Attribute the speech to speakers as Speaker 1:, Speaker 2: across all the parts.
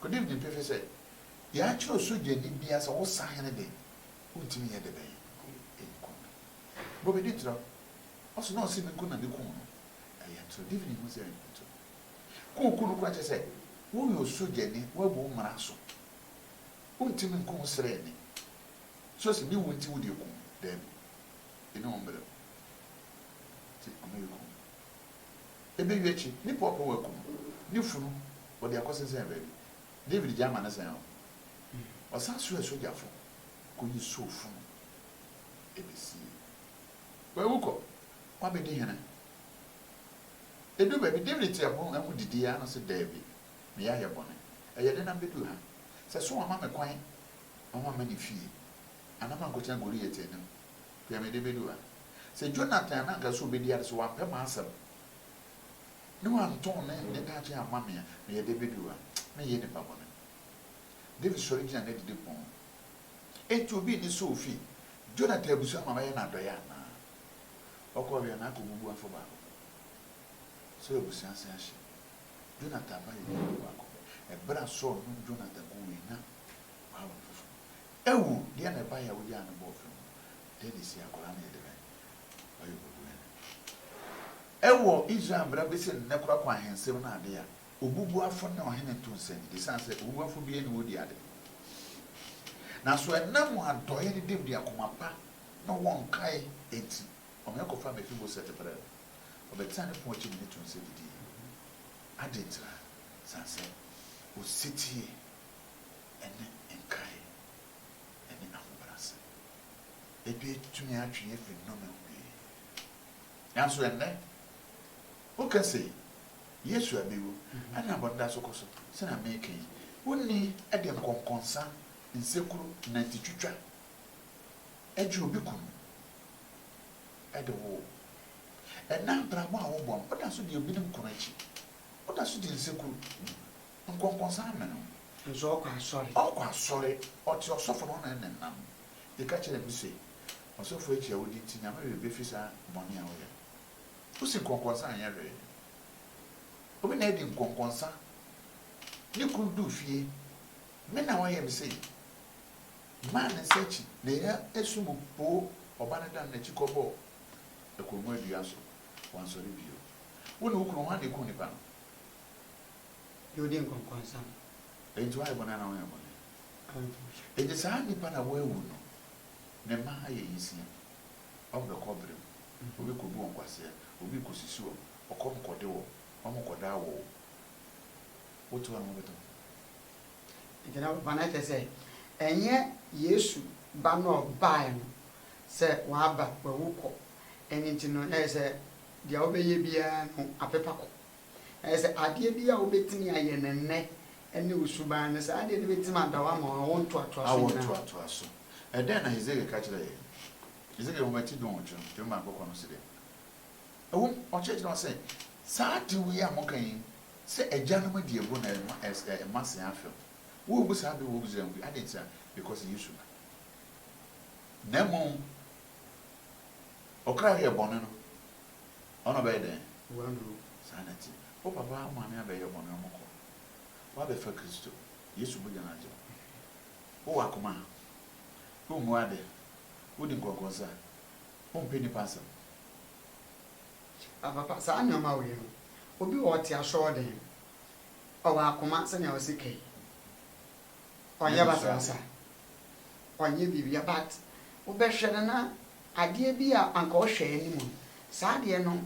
Speaker 1: Kodew gye pefe sɛ yɛakyerɛw sogyani biara sɛ wo sahene de, wontumi nyɛ dɛ bɛn nkum no. Bɔ me ditira o. Ɔse na ɔse minkum na mekum no. Ɛyɛ ntoro. Divine hu sɛ ɛnyɛ ntoro. Kɔ oku no koraa kyerɛ sɛ woyɛ osogyani, woabu mmara so. Wontumi nkum sraani. So ɔse ne wu nti wode akum no? Daabi. Yɛne wo mbrɛ o. Nti ɔma yɛkum no. Ebewie akyi, nnipa ɔpɛ wɔ akum ne funu, wɔde akɔsensɛn baabi. David gyae ma ne sɛn hɔ. Ɔsan soɛɛ sogyafo koyii Saul funu besiei. Wawu kɔ, wabedi hene. Eduu baabi, David tee ɛhɔ amu didii ara na ɔse, Dabi, me yɛ ayɛ bɔne. Ɛyɛ dɛn na mibeduu ha? Sɛ Saul amma me kwan ma mamma ne fie, anaa mankɔtena Goliat anim. Hwɛ mede bedu ha. Sɛ Jonathan na anka sɛ obedi ade sɛ wampɛ m'asɛm ne wantɔn ne ne daakye amma me a, meyɛ dɛ bedu ha? Menyɛ nipa bɔne. David sɔre gyina n'adidipon ho. Enti obi nni sɛ ofi Jonathan abusua ma bɛyɛ no adɔe anaa? Ɔkɔ wie a, na akobubu afã baako pɛ. Sɛ abusua nse ahye. Jonathan mma yɛ ɔyɛ ɔbaako pɛ. Bere a Saul num Jonathan guu wei na W'awo no foforɔ awu, deɛ na ɛbaeɛ a wogyaa no bɔɔ fam no? Deɛ na ɛsii akwadaa no yɛ dɛn? W'ayɛ obubuɛ no. Ɛwɔ Israel mmara bɛsi nnɛ koraa kɔ ahensɛm ne adeɛ a, obubuafo ne ɔhene nto nsa nnidi, ɛsiane sɛ obubuafo biara nni hɔ di ade. Na so ɛnam wɔn adɔeɛ ne dawid akoma pa na wɔnkae enti, ɔmeɛ kɔfaa Mefiboset brɛɛ no? Ɔbɛtenaa ne pon akyi ne no too nsa didii. Adɛn ntira? Ɛsiane sɛ ɔsetie. ne nkae ne ahobrɛase. Ebia etumi atwe yɛn afi nnome ho pii. Nanso ɛnnɛ, woka sɛ Yesu abewu na abɔ no da so kɔ so sɛnea mereka yi, wonni de nkɔnkɔnsa, nsekuro, nantitwitwa gye obi kunu de wo. Ɛnnɛ abrabɔ a wobɔ no, woda so di ebinom kunu akyi. Woda so di nsekuro. Nkɔnkɔnsa amɛ no. Nso ɔkɔ asɔre.
Speaker 2: Ɔkɔ asɔre,
Speaker 1: ɔte ɔsɔfo no hɔ na ɛna ɛnam. Yɛka kyerɛɛ no se, Ɔsɔfo akyi a wodi nti Nyame werɛ befi saa bɔne a woyɛ no. Wosi nkɔnkɔnsa anyɛ hwee. Obi na adi nkɔnkɔnsa, ne kunu duu fie, me na wayɛ me sei. Maa ne nsa akyi, na ɛyɛ asu mu poo ɔba no dan n'akyi kɔbɔɔ akongua dua so. Wansɔre bio. Wo ne wo kunu hwan na ekum nipa no?
Speaker 2: Deɛ ɔdi nkɔnkɔnsa no. Enti woayɛ
Speaker 1: bɔne anaa wonyɛɛ bɔne? Enti saa nipa no a wawu no, ne mma ayɛ nyinsini a, wɔn bɛkɔ ɔbrɛ mu, wɔbɛkɔbu wɔn nkwasea, obi rekɔsisi wɔn, ɔkɔm rekɔde wɔn, wɔrekɔda awo o, wote hɔ a, wɔbɛtɔ hɔ.
Speaker 2: Enti na papa no akyerɛ sɛ, ɛnyɛ Yesu ba no a ɔbaeɛ no sɛ waba, wawu kɔ, ɛno nti no, na ɛsɛ sɛ deɛ wobɛyɛ biara no, apepa kɔ. Ayɛ sɛ adeɛ bi a wobɛtumi ayɛ no nnɛ ne wo suban no, saa adeɛ no bɛtumi ada wo ama awo ntoatoaso Awo nyinaa. ntoatoaso.
Speaker 1: Ɛdɛn na Hesekiel ka kyerɛɛ yɛn? Hesekiel nwoma ti dunwɔtwe no, twerɛma akɔkɔɔ no se dɛn? Ɛwom, ɔkyerɛkyerɛ hɔ sɛ, Saa ade wei a moka yi, sɛ agyanom adi aburow na ɛma ɛɛ ɛma se afɛm. Wommu saa bere wɔ Misraim mu bi. Adɛn ntia? Because Yesu ba. Na mmom, ɔkra a ɔyɛ bɔne no, Ɔno ɔbɛyɛ dɛn? W'anuro. Saa
Speaker 2: na ɛteɛ.
Speaker 1: Wo papa, wo maame abɛyɛ bɔne, wɔkɔ. W'abɛfa Kristo. Yesu mogya no agye wo. Wo wɔ akoma a. Wo mmu ade. Wo di nkɔnkɔnsa. Wo mpɛ nnipa asɛm.
Speaker 2: Papa, saa nnoɔma wei no, obi wɔ ɔte asɔɔden, ɔwɔ akoma sɛnea ɔsi ka yi, ɔnyɛ basabasa, ɔnyɛ biribia, but wo bɛhwɛ no na Adeɛ bi a anka ɔhwɛ anim no, saa adeɛ no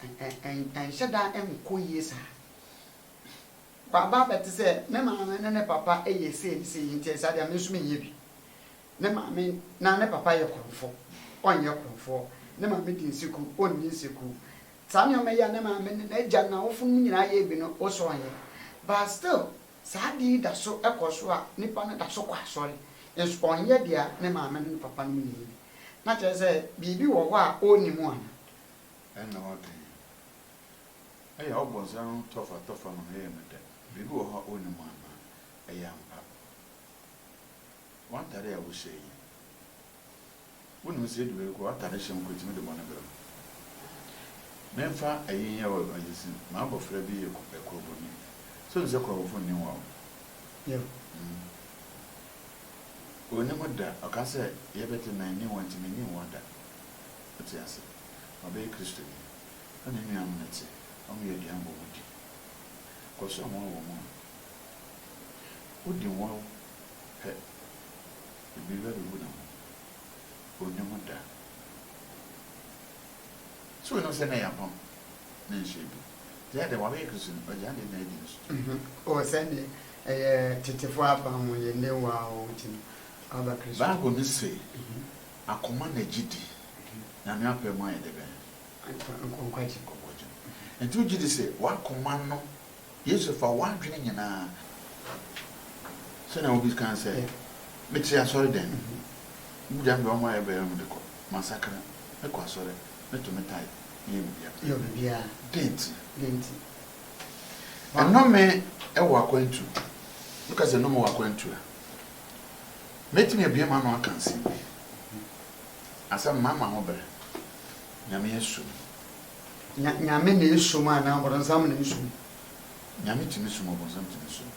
Speaker 2: nhyɛ da nkɔ yie saa. Waba abɛte sɛ, me maame ne ne papa yɛ sei ne sei nti saa adeɛ me nso menyɛ bi. Ne maame na ne papa yɛ korɔmfo, ɔnyɛ korɔmfoɔ. Ne maame di nseku, ɔnni nseku. Saa nneɛma yi a ne maame ne n'agya ne n'awofonom nyinaa yɛ bi no, wo nso ɔnyɛ. But still, Saa ade yi da so kɔ so a nipa no da so kɔ asɔre, nso ɔnyɛ deɛ ne maame ne ne papa nom yɛ yi bi. Na kyerɛ sɛ biribi wɔ hɔ a ɔnni mu anaa? Ɛnna
Speaker 1: wɔka yi, Ɛyɛ ɔbonsam no tɔfatɔfa ma meyɛɛ no dɛ. Biribi wɔ hɔ a ɔnni mu anaa? Ɛyɛ ampa. W'atade a wohyɛ yi. Wonim sɛ edu baabi koraa w'atade hyɛ mpo etumi de bɔne brɛ wo. Memfa eyi nyɛ wo aguagyesi, m'abɔfra bi yɛ korɔboni. So wonim sɛ korɔbofo nni ho awo? Yiw.
Speaker 2: Hmm.
Speaker 1: Onni ho da. Ɔka sɛ, Yɛbɛte na enni ho a, enti minni ho da. Wote ase? Wabɛyɛ Kristoni. Ɔne ne nuanom no te, wɔyɛ aduan bɔ mu di. Kɔsoa wɔn wɔ wɔn mu no. Wodi ho awo pɛ. Ebi bɛbebu ne ho, onni ho da. So wonim sɛ na ɛyɛ apam ne nhyɛ bi? Gyaa dɛ, w'awɛ yɛ Kristo ni, ɔgyaa deɛ na adi no so. Oh, sɛdeɛ
Speaker 2: ɛyɛ tetefoɔ apam mu yɛ nnɛ wo a wogye no aba Kristo mu. Bible no se,
Speaker 1: Akoma na gye di, Nyame apɛ mu ayɛ dɛ bɛn?
Speaker 2: Nkwagye mu.
Speaker 1: Nti wogye di sɛ w'akoma no Yesu fa w'adwene nyinaa. Sɛnea obi kae sɛ, Mete asɔredan mu. Wogyae me bere a wɔayɛ bɛyɛ no mede kɔ. Masakra. Mekɔ asɔre. Meto me tae. Meyɛ biribiara.
Speaker 2: Dɛn
Speaker 1: nti?
Speaker 2: Nnome wɔ akwantu.
Speaker 1: Woka sɛ nnome wɔ akwantu a, mɛtumi abue m'ano aka nsɛm bi. Asɛm no, mamma ho bere. Nyame asu me. Nya
Speaker 2: Nyame na esom anaa ɔbɔnsam na esom? Nyame
Speaker 1: tumi som ɔbɔnsam tumi som.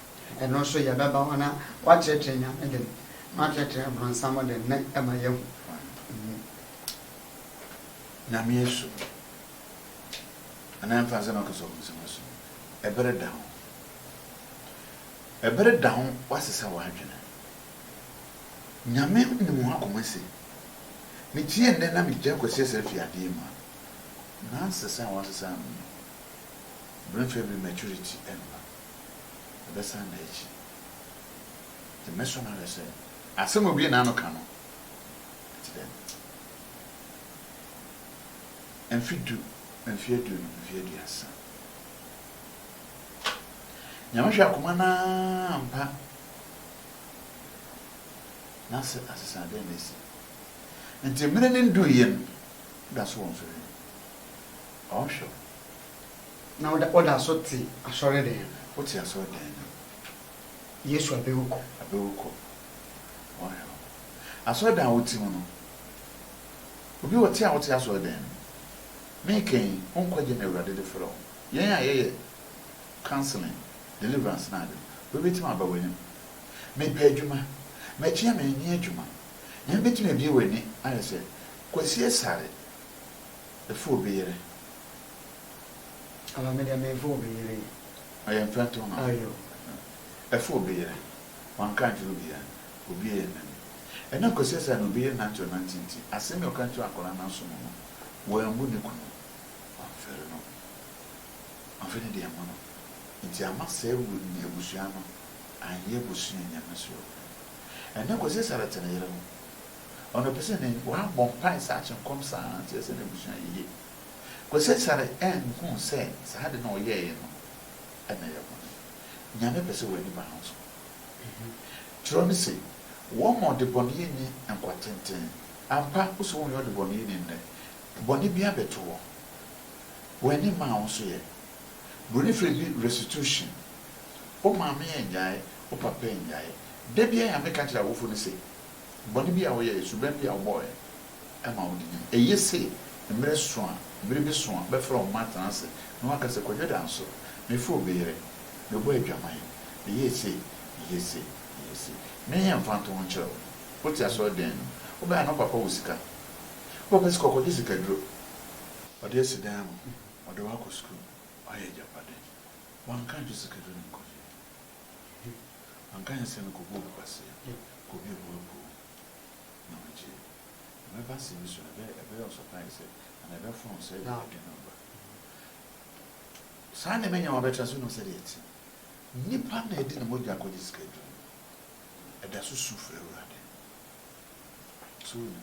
Speaker 1: Ɛno nso yɛbɛba
Speaker 2: ho na wɔakyerɛkyerɛ Nyame den na wɔakyerɛkyerɛ ɔbɔnsam den na ɛma yɛahu. Nyame
Speaker 1: esom anaa mfa nsɛ na ɔka sɛ ɔbɔnsam esom. Ɛbere da ho. Ɛbere da ho wɔasesa w'adwene. Nyame nim ho akoma se, Mekyeɛ nnɛ na megyae Kwasi Asare fie adeɛ mu a, Nonsense a wɔasesa ano no, mmerɛfɛ bi maturity mma. Ɛbɛsan da akyi. Nti mɛsɔ no ahwɛ sɛ asɛm a obue n'ano ka no, ɛte dɛn. Mfe du, mfe aduonu, mfe aduasa. Nyame hwɛ akoma no ara ampa na sɛ asesadeɛ na asi. Ntsi mmere no nnduui yɛ no, ɔda so wɔ nsɔhwɛ mu. Ɔhwɛ wo.
Speaker 2: Na ɔda ɔda so tse asɔrdan no. Otse asɔrdan
Speaker 1: no mu.
Speaker 2: Yesu abɛ wo kɔ. Abɛ wo kɔ. Ɔhwɛ
Speaker 1: wo. Asɔrdan a wotse mu no, obi wɔ tse a ɔtse asɔrdan no mu. Meekã yi, wo nkwagye na Ewuradze dze frɛ wo. Hɛn a yɛyɛ counselling, deliverance n'adze no, obi betsim aba w'enyim. Mepɛ edwuma. Mekyea me, mennyɛ edwuma. Hɛn betumi ebue hɔn ani ayɛ sɛ Kwesi Asare, Efa obi yere.
Speaker 2: Aah me deɛ menfa obi yere yi. Ɔyɛ mfɛntoho
Speaker 1: ma me.
Speaker 2: Ɛfa
Speaker 1: obi yere. Wanka ankyerɛ obiara. Obiara annim. Ɛnam Kwesi Asare ne obi yere nantew nante nti, asɛm bi a ɔka kyerɛɛ akwadaa no aso no no, wammu ne kunu. Wamfɛre no. Wamfa ne deɛ ammu no. Nti amma saa abusua no anyɛ abusua a Nyame suro. Ɛnyɛ Kwasi Sarete ne yere no. Ɔno ɔpɛ sɛ ne wabɔ mpae saa kye nkɔm saa ara nti ɛsɛ n'abusua yiye. Kwasi Sare anhu sɛ saa ade no a ɔyɛeɛ no na ɛyɛ bɔne. Nyame pɛ sɛ w'ani ba ho so. Twerɛ no se, Wɔma ɔdebɔneyɛni nkwa tenten. Ampa, wo sɛ wonyɛ ɔdebɔneyɛni nnɛ, bɔne bi abɛto hɔ. W'ani mmaa wo nso yɛ. Buroni frɛ bi restitution. Wo maame annyae, wo papa annyae. Da biara na meka kyerɛ awofo no se, bɔne bi a woyɛe, suban bi a wobɔɔe ma wode nyae. Eye se mmere so a, bere bi so a, bɛfrɛ wo mma atena ase na wɔaka se, Kwadwo Danso, mefoo obi yere, mebɔɔ adwaman, meyɛɛ sei, meyɛɛ sei, meyɛɛ sei. Menyɛ mfantoho nkyerɛ wo. Wote asɔre dɛn no? Wobɛn a na wo papa wɔ sika. Wo papa sika, ɔkɔgye sikaduro. Ɔde asi dan mu. Ɔde wo akɔ sukuu. Wayɛ agyapade. Wanka ankyerɛ Sakaria ne nkurɔfo yi. Hwɛ, wanka ankyerɛ sɛ mekɔbɔɔ me kwasea, kɔbuee mo aburow, na mogyee no. Ɛbɛba sɛ me su no bɛyɛ, ɛbɛyɛ ɔsɔpaee sɛ, anaa ɛbɛfɔn sɛ deɛ ɛde no reba. Saa na mɛnya wɔn abɛtra ase. Wonim sɛdeɛ ɛte? Nipa na ɛde ne mogya akɔgye sika aduru no, ɛda so su frɛ Awurade. So wonim?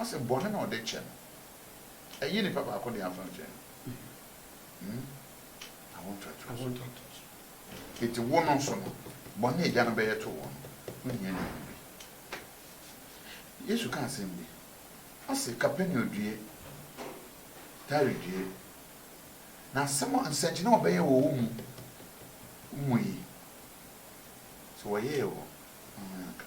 Speaker 1: Ɔse bɔne na ɔde kyɛ no. Ɛnyɛ nipa baako de afa nkyɛn no. Hmm? Awo ntoatoa so. Enti wo no nso no, bɔne a agya no bɛyɛ to wo no, wonhia ne ho bi. Yesu ka asɛm bi. Ɔse Kapernaum due, Tyre due. Na asɛm a, nsɛnkyerɛnne a wɔbɛyɛ wɔ wo mu, wo mu yi, sɛ wɔyɛɛ wɔ, ho anka.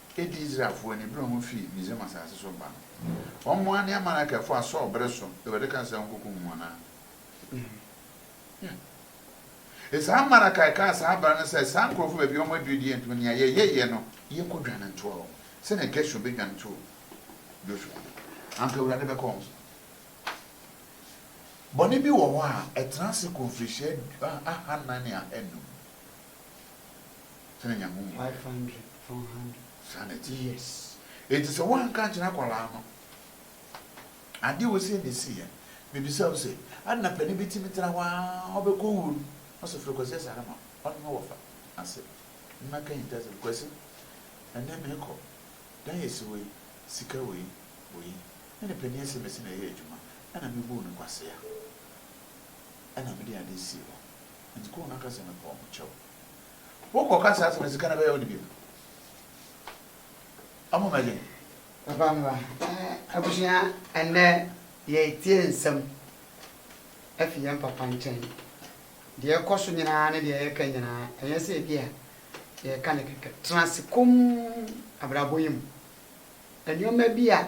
Speaker 1: edii Israelfo ni bere a wofii Misraim asase so ba no. Wɔmoaa ne Amalekfo a Saul bere so Awurade kaa sɛ onkokum wɔn no ano. Yeah. Saa Amalekite kaa saa bere no sɛ, saa nkurɔfo baabi a wɔaduru deɛ ntumi nea yɛyɛyɛ no, yɛnkɔdwane ntoa wɔn, sɛnea Gesur bɛdwane too Joshua no. Anka Awurade bɛka wɔn so. Bɔne bi wɔ hɔ a, ɛtena ase kɔ mfirihyia ahannan ne ahanum. Sɛnea
Speaker 2: Nyame hu yɛn. Five hundred, four hundred. Saa na ɛte.
Speaker 1: Yes.
Speaker 2: Enti sɛ woanka
Speaker 1: ankyerɛ akwadaa no adeɛ a ɔsii na ɛsiiɛ no, mebisa wo sɛ, ade na panin bɛtumi tra hɔ ara ɔbɛkɔ wuo no, na ɔsɛ frɛ Kwasi Asare ma ɔne no wɔfa ase mmɛka ahintasɛm, Kwasi, ɛnnɛ merekɔ, dan a ɛsi hɔ yi, sika wei, wei, me ne panin Asemesi na yɛyɛɛ adwuma, ɛna mebuu no nkwasea, ɛna mede adeɛ sii hɔ. Enti kɔ na ka sɛ, 'Mepɛ wo, mekyɛ wo. Wokɔka saa asɛm a, sika na ɛbɛyɛ wo de bi no. Ɔmo mmɛgye. Papa Mba,
Speaker 2: abusua, ɛnnɛ yɛretie nsɛm afi yɛn papa nkyɛn. Deɛ ɛkɔ so nyinaa ne deɛ yɛka nyinaa, ɛnyɛ sɛ ebia yɛreka no kɛkɛ. Tena ase komm abrabɔ yi mu. Nneɛma bi a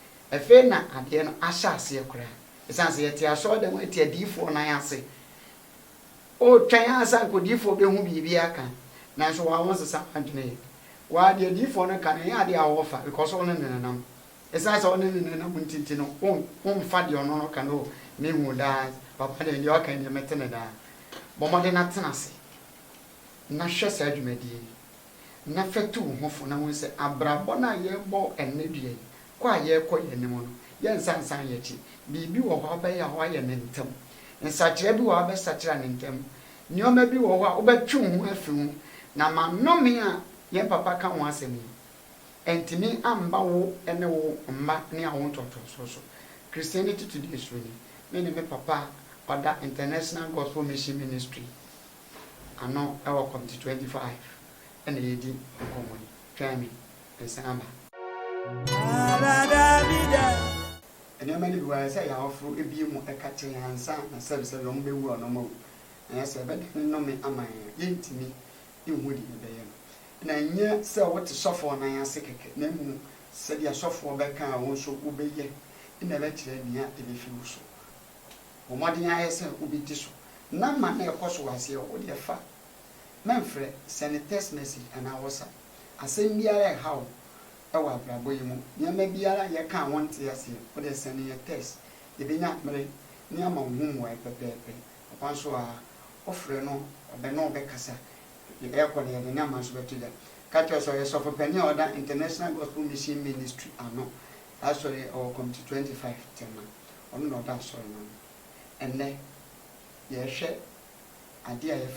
Speaker 2: Afei na adeɛ no ahyɛ aseɛ koraa. Ɛsiane sɛ yɛte asɔredan mu te adiyifoɔ nan ase. Wotwɛn ara sɛ anka odiyifoɔ bɛhu biribi aka, nanso wo ara wonsesa w'adwene yɛ. Wo ara deɛ adiyifoɔ no ka no, ɛnyɛ adeɛ a wɔfa because wo ne no nenam. Ɛsiane sɛ wo ne no nenam nti nti no, womfa deɛ ɔno no ka no, oh, mehu daa, papa deɛ deɛ ɔka yi deɛ mɛte no daa. Bɔ mmɔden na tena ase na hwɛ saa dwumadie yi. na fɛtu wo ho fo na hu sɛ abrabɔ no a yɛrebɔ ɛnnɛ dua yi, kɔ a yɛrekɔ yɛn anim no, yɛnsan nsan yɛn akyi. Biribi wɔ hɔ a wobɛyɛ a woayɛ no ntɛm. Nsakyera bi wɔ hɔ a wobɛsakyera no ntɛm. Nneɛma bi wɔ hɔ a wobɛtwe wo ho afi ho. Na ma nnome a yɛn papa ka ho asɛm yi antumi amma wo ne wo mma ne awo ntoatoasoɔ so. Christiani Tutudeɛ Suroni, Me ne me papa a ɔda International Gospel Mission Ministry. ano wɔ Committee 25 na yɛredi nkɔmmɔ yi. Twɛn me, meresan aba. Nneɛma no bi wɔ hɔ a, ɛsɛ sɛ yɛn awofo bue mu ka kyerɛ yɛn ansa na sɛbesɛbe wɔbɛwu a wɔawu, anaasɛ ɛbɛdane nnome ama yɛn a, yɛrentumi nhu deɛ yɛbɛyɛ no. Na ɛnyɛ sɛ wote sɔfoɔ nan ase kɛkɛ, na mmom sɛdeɛ sɔfoɔ bɛka a wo nso wobɛyɛ na ɛbɛkyerɛ nea ɛbɛfiri wo so. Bɔ mmɔden ara sɛ wobɛdi so. Ná ma na ɛkɔ so ara sɛ yɛwɔ wo deɛ fa. Mɛmfrɛ, sɛne text message anaa WhatsApp. Asɛm biara a ɛha wo wɔ abrabɔ yi mu, nneɛma biara a yɛka a wonte aseɛ, wo deɛ sɛne yɛn text. Yɛbɛnya mmere ne ama wo ho mmuaeɛ pɛpɛɛpɛ. Ɔkwan nso a wofrɛ no, ɔbɛne wo bɛkasa. Ɛrekɔ no, yɛde nneɛma nso bɛto dwa. Ka kyerɛ sɛ ɔyɛ sɔfopanin a ɔda International Gospel Mission Ministry ano. Asɔre ɛwɔ committee twenty five tema ɔno na ɔda asɔre no ano ɛnɛ yɛhwɛ adeɛ a yɛfrɛ.